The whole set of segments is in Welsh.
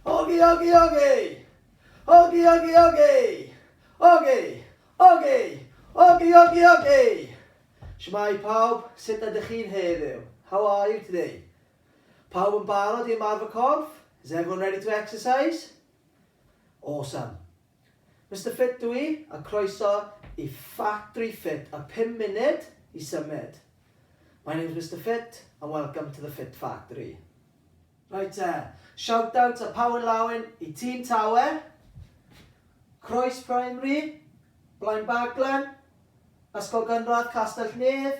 Ogi, ogi, ogi! Ogi, ogi, ogi! Ogi! Ogi! Ogi, ogi, ogi! Shwmae pawb, sut ydych chi'n heddiw? How are you today? Pawb yn barod i ymarfer corff? Is everyone ready to exercise? Awesome. Mister Ffit dw i, a croeso i Ffatri Ffit a phum munud i symud. My name's Mister Ffit and welcome to the Ffit Ffatri. Reit te, shout out a pawen lawen i Tîm Tawe, Croes Primary, Blaenbaglen, Ysgol Gynradd Castell-nedd,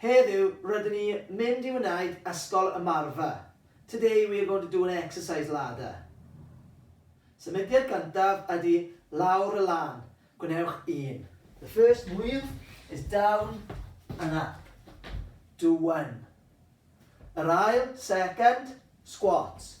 Heddiw, rydyn ni mynd i wneud ysgol ymarfer. Today we are going to do an exercise ladder. Symudiad gyntaf ydy lawr y lan. Gwnewch un. The first move is down and up. Do one. Yr ail, second, squats.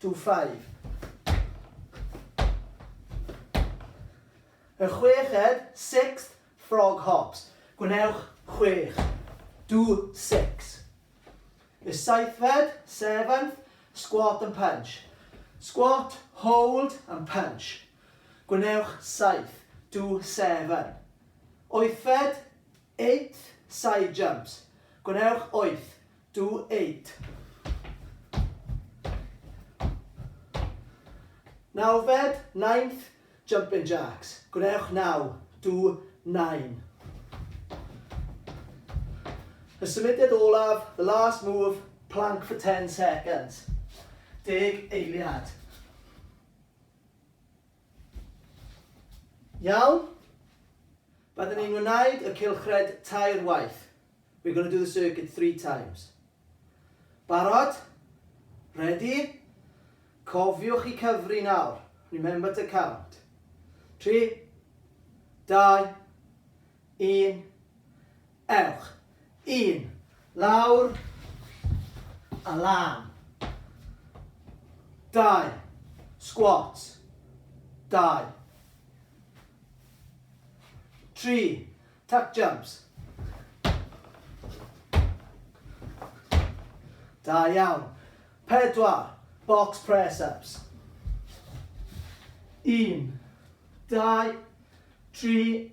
to five. Y chweched, sixth, frog hops. Gwnewch chwech. Do six. Y seithfed, seventh, squat and punch. Squat, hold and punch. Gwnewch saith. Do seven. Oethfed, eight, side jumps. Gwnewch oeth. Do it. Nawfed, ninth, jumping jacks. Gwnewch naw. Do nine. Y symudiad olaf, the last move, plank for 10 seconds. Deg eiliad. Iawn? Byddwn ni'n wneud y cylchred tair waith. We're going to do the circuit three times. Barod? Ready? Cofiwch i cyfri nawr. Remember to count. Tri, dau, un, Ewch. Un. Lawr. A lan. Dau. Sgwat. Dau. Tri. Tuck jumps. Da iawn. Pedwar. Box press-ups. Un. Dau. Tri.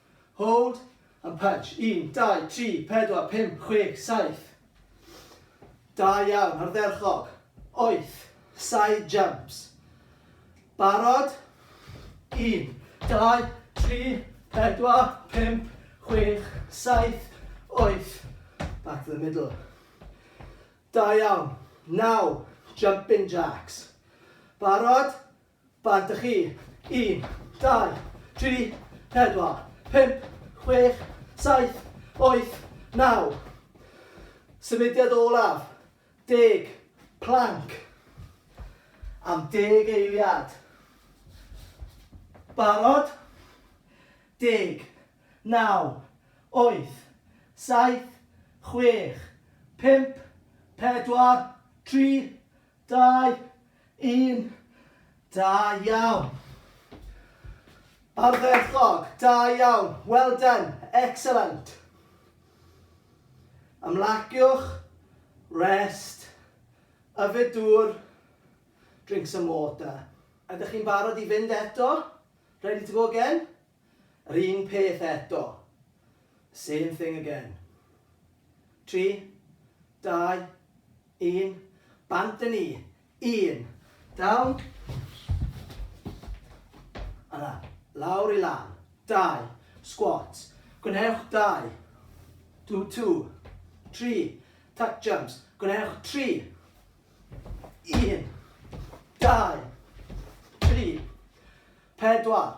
Hold and punch, un, dau, tri, pedwar, pump, chwech, saith. Da iawn, ardderchog. Oeth, side jumps. Barod? Un, dau, tri, pedwar, pump, chwech, saith, oeth. Back to the middle. Da iawn. Naw, jumping jacks. Barod? Bag da chi. Un, dau, tri, pedwar, pump, chwech, saith, wyth, naw. Symudiad olaf. Deg. Plank. Am deg eiliad. Barod? Deg. Naw. Wyth. Saith. Chwech. Pump. Pedwar. Tri. Dau, un, da iawn. Ardderchog, da iawn, well done, excellent. Ymlaciwch, rest, yfed dŵr, drink some water. Ydych chi'n barod i fynd eto? Ready to go again? Yr un peth eto. Same thing again. Tri, dau, un. Bant â ni. Un. Down. Yna. Lawr i lan. Dau. Squat. Gwnewch dau. Do two. Tri. Tuck jumps. Gwnewch tri. Un. Dau. Tri. Pedwar.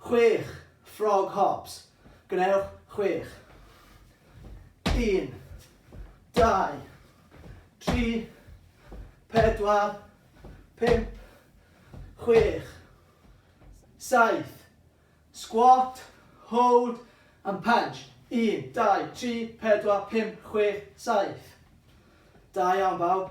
Chwech, frog hops. Gwnewch chwech. Un, dau, tri, pedwar, pump, chwech, saith. Squat, hold and punch. Un, dau, tri, pedwar, pump, chwech, saith. Da iawn bawb.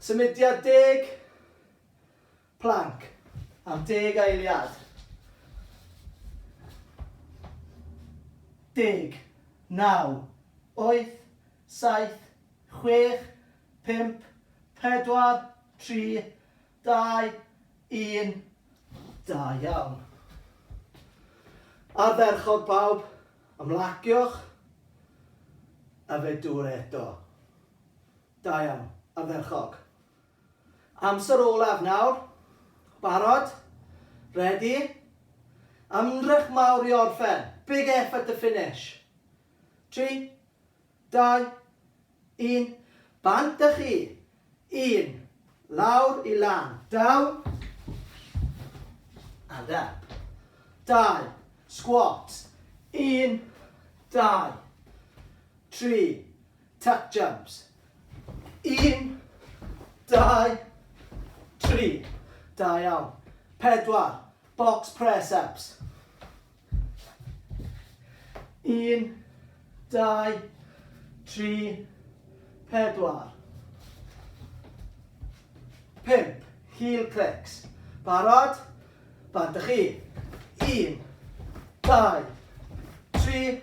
Symudiad deg, plank, am deg eiliad. Deg, naw, wyth, saith, chwech, pump, pedwar, tri, dau, un. Da iawn. Ardderchog pawb, ymlaciwch a fe dŵr eto. Da iawn, ardderchog. Amser olaf nawr. Barod? Ready? Ymdrech mawr i orffen. Big effort to finish. Tri, dau, un. Bant â chi. Un. Lawr i lan. Down. And up. Dau. Squat. Un. Dau. Tri. Tap jams. Un, dau, tri. Da iawn. Pedwar. Box press ups. Un, dau, tri, pedwar. Pimp. Heel clicks. Barod? Barod chi. Un, dau, tri,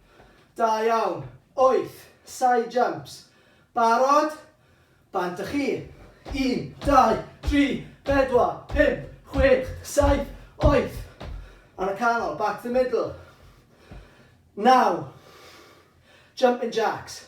Da iawn. Wyth. Side jumps. Barod? Bant a chi. Un, dau, tri, pedwar, pump, chwech, saith, wyth. Ar y canol, back to the middle. Naw. Jumping jacks.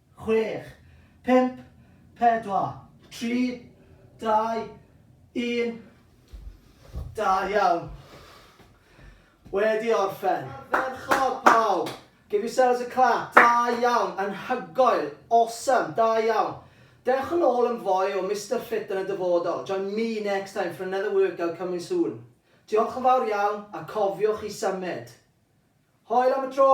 chwech, pump, pedwar, tri, dau, un. Da iawn. Wedi orffen. Ardderchog pawb! Give yourselves a clap. Da iawn, anhygoel, awesome, da iawn. Dewch yn ôl yn fwy o Mister Fit yn y dyfodol, join me next time for another workout coming soon. Diolch yn fawr iawn a cofiwch i symud. Hoel am y tro!